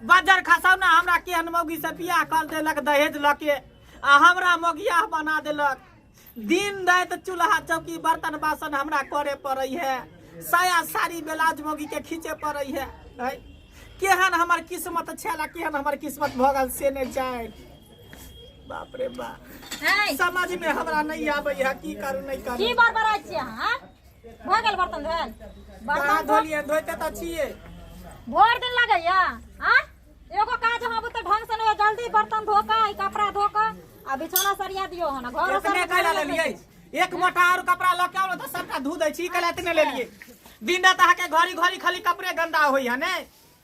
बजर खसौना हमरा केहन मौगी से बियाह कर देलक दहेज लऽ के आ हमरा मौगिया बना देलक दिन रात चूल्हा चौकी बर्तन बासन हमरा करे पड़ै है साया साड़ी ब्लाउज मौगी के खींचे पड़ै है है? केहन हमर किस्मत छल आ केहन हमर किस्मत भऽ गेल से नहि जाय बाप रे बाप है समझ में हमरा नहीं आबै है की करू नहीं की करू बड़बड़ाइ छियै अहाँ भऽ गेल बर्तन धोल बर्तन धोलिए धोते तऽ छिए भोर दिन लगैया आ एगो काज हम बुते ढंग से नहीं जल्दी बर्तन धो के ई कपड़ा धो के आ बिछौना सरिया दियो हन घर इतने कैला लेलिए एक मोटा और कपड़ा लऽ के आउ तऽ सबटा धो दै छी कैला इतने लेलिए दिन रात अहाँके घड़ी घड़ी खाली कपड़े गंदा होइया ने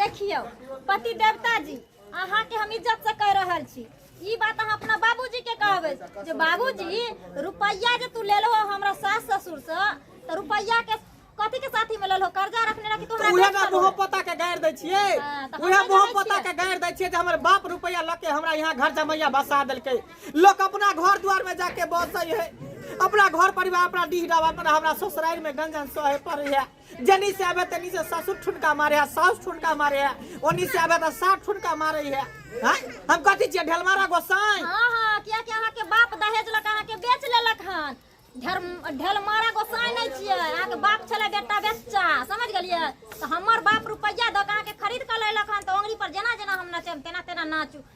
देखियौ पति देवता जी अहाँ के हम इज्जत से कह रहल छी ई बात अहाँ अपना बाबूजी के कहबै जे बाबूजी रुपैया जे तू लेलो हो हमरा सास ससुर से तो रुपैया के कथी के साथी में लेलो कर्जा रखने रखी तो उहे ना मोह पता के गाड़ दै छियै हाँ, तऽ उहे हमर मोह जानै पता छियै। के गाड़ दै छियै जे हमर बाप रुपैया लऽ के हमरा यहाँ घर जमैया बसा देलकै लोक अपना घर दुआर में जाके बसै है अपना घर परिवार अपना डीह डाबा पर हमरा ससुरारि में गंजन सहे पड़ै है जनी से आबे तनी से ससुर ठुनका मारे है सास ठुनका मारे है ओनी से आबे त सास ठुनका मारे है हाँ? हम कथी छियै ढेलमारा गोसाई हाँ हाँ किया कि अहाँ के बाप दहेज लक अहाँ के बेच लेलक हन ढेर ढेलमारा गोसाई नहीं छियै अहाँ के बाप छले बेटा बेच्चा समझ गेलियै तो हमर बाप रुपैया दऽ के अहाँ के खरीद के लेलक हन तो ओंगरी पर जेना जेना हम नचेम तेना तेना नाचू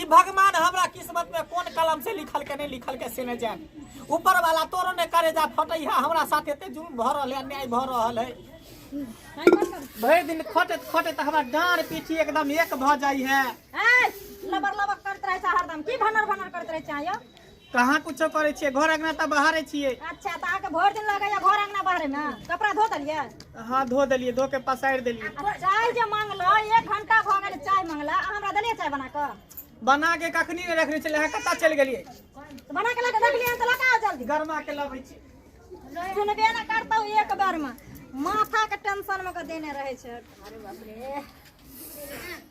ई भगवान हमरा किस्मत में कोन कलम से लिखल के नहीं लिखल के से न जान ऊपर वाला तोरो ने करे जा फटै है हमरा साथ एते जुलूम भ रहल है अन्याय भ रहल है भरि दिन खटैत खटैत हमरा डाँड़ पीठी एकदम एक भ जाइ है लबर लबर करत रहे छै हरदम की भनर भनर करत रहे छै आयो कहाँ कुछो करे छियै घर अंगना तऽ बाहरे छियै अच्छा तऽ अहाँके भरि दिन लगैया घर अंगना बाहरे मे कपड़ा धो देलियै हाँ धो देलियै धो के पसारि देलियै आ चाय जे मांगलो एक घंटा भऽ गेल चाय मांगला अहाँ हमरा देलियै चाय बना कऽ बना के कखनी ने रखने छलियै अहाँ कतऽ चलि गेलियै तऽ बना के लऽ कऽ रखलियै हन तऽ लऽ कऽ आउ जल्दी गरमा के लबै छी सुनबे ने करतौ एक बेर मे माथा के टेंशन मे के देने रहे छै अरे बाप रे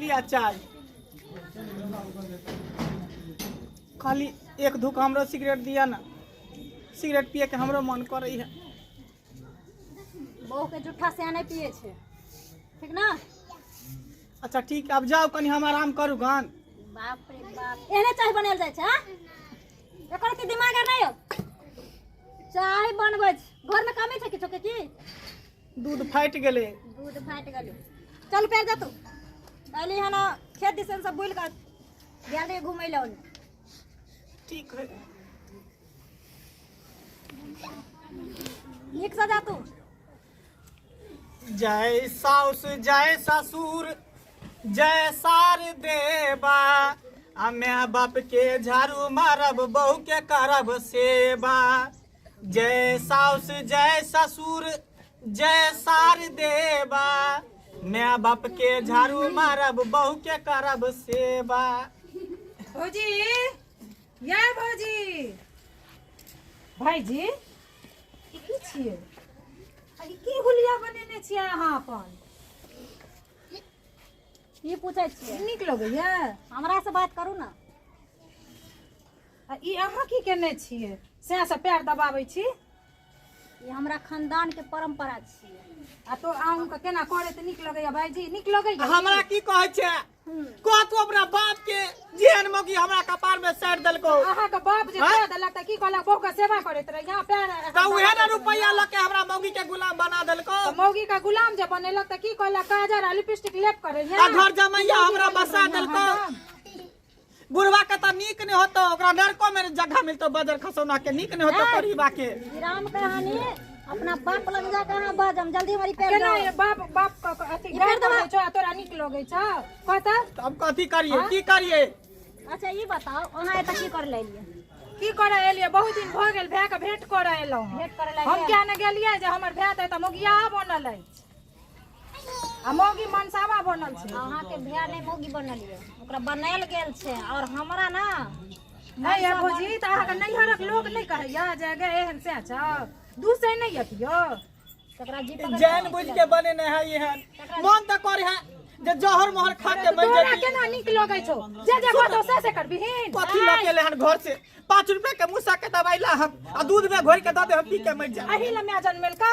लिया चाय खाली एक धूक हमरो सिगरेट दिया ना सिगरेट पिए के हमरो मन करे है बहू के जूठा से नहीं पिए छे ठीक ना अच्छा ठीक अब जाओ कनी हम आराम करू गान बाप रे बाप एने चाय बनाल जाय छे हाँ? एकर के दिमाग आर नहीं हो चाय बनबै छै। घर में कमी छै किछो के की दूध फाटि गेलै दूध फाटि गेलै चल पैर जा तू अली हन खेत दिसन सब बुलि कऽ गेल रही घुमै लए ओन्ने ठीक है नीक से जा तू जय साउस जय ससुर जय सार देवा आ माय बाप के झाड़ू मारब बहू के करब सेवा जय साउस जय ससुर जय सार देवा माय बाप के झाड़ू मारब बहू के करब सेवा भौजी या भौजी भाईजी ई की छियै अरे की हुलिया बनेने छियै अहाँ अपन की पूछै छियै नीक लगैया हमरा से बात करू ने आ ई अहाँ की केने छियै सएह से पैर दबाबै छी ई हमरा खानदान के परंपरा छियै आ तो अहूँ के केना करे तऽ नीक लगैया भाईजी नीक लगैया हमरा की कहै छै कहतो अपना बाप के जेहन मौकी हमरा कपार में साइड देलको अहाँके बाप जे कह देलक तऽ की कहलक बहू के सेवा करैत रही यहाँ पैर तऽ उहे ने रुपैया लऽ के हमरा मौगी के गुलाम बना देलको तऽ मौगी के गुलाम जे बनेलक तऽ की कहलक काजर आ लिपस्टिक लेप करे आ घर जमैया हमरा बसा देलको बुढ़वा के तो नीक नहीं होतो ओकरा नरको में जगह मिलतो बदर खसौना के नीक नहीं होतो परिवा के राम कहानी अपना बाप लग जा कहाँ बाज हम जल्दी हमारी पैर केना ये बाप बाप क- क- अथी ई गाय पेड़ दबा। लगै छौ आ तोरा नीक लगै छौ कह तऽ तो हम कथी करिए की करिए अच्छा ई बताओ अहाँ एतऽ की कर लेलिए की करऽ एलियै बहुत दिन भऽ गेल भाय के भेंट करऽ एलहुँ भेंट करऽ हम एलियै? किया ने गेलियै जे हमर भाय तऽ एतऽ मोगिया बनल अछि आ मौगी मनसावा बनल छै अहाँके भैया नहि मौगी बनल ये ओकरा बनायल गेल छै और हमरा ना है या भौजी तऽ अहाँके नैहरक लोक नहि कहैया जे गे एहन से छ दूसै नहि अतियो तकरा जी पकड़ जान बुझ के बने नहीं है ये है मन तो करे है जे जहर मोहर खा के मर तोरा जाती केना नीक लगै छौ जे जे कहतो से से करबिहीन कथी लऽ के लेहन घर से पाँच रुपए के मुसा के दवाई ला हम आ दूध में घोर के दऽ दे हम पी के मर जाए अही लए माय जनमेलका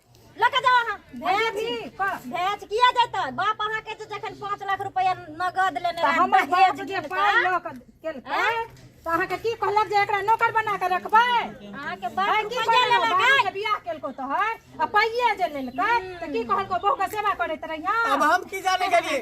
लऽ कऽ जाउ अहाँ भेज भेज किया जेतै बाप अहाँके जे जखन पाँच लाख रुपया नगद लेने तऽ रहै हमर दहेज बाप जे गिरतै, पाइ लऽ कऽ केलकै तऽ अहाँके की कहलक जे एकरा नौकर बना कऽ रखबै अहाँके बाप भाय की रुपया कहलक लेलक बाबू के बियाह केलको तोहर आ पाइये जे लेलकै तऽ की कहलको बहू के सेवा करैत रहिया अब हम की जाने गेलिए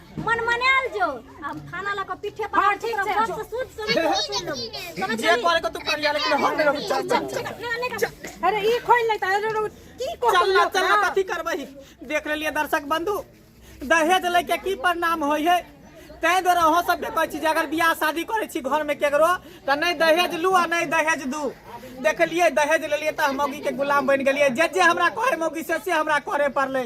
मन मनायल जो अब खाना लगा पीठे पर हाँ, ठीक है जो सूद समझ लो समझ जे करे को तू कर यार लेकिन हम लोग चल चल चल अरे ई खोल ले तारे लोग की को चल ना चल ना कथी करबही देख ले लिए दर्शक बंधु दहेज ले के की परिणाम होय है तै द्वारा अहाँ सब कहै छी जे अगर बियाह शादी करै छी घर में केकरो त नै दहेज लू आ नै दहेज दू देखलिए दहेज लेलिए त हम मौगी के गुलाम बन गेलिए जे जे हमरा कहै मौगी से से हमरा करे पड़लै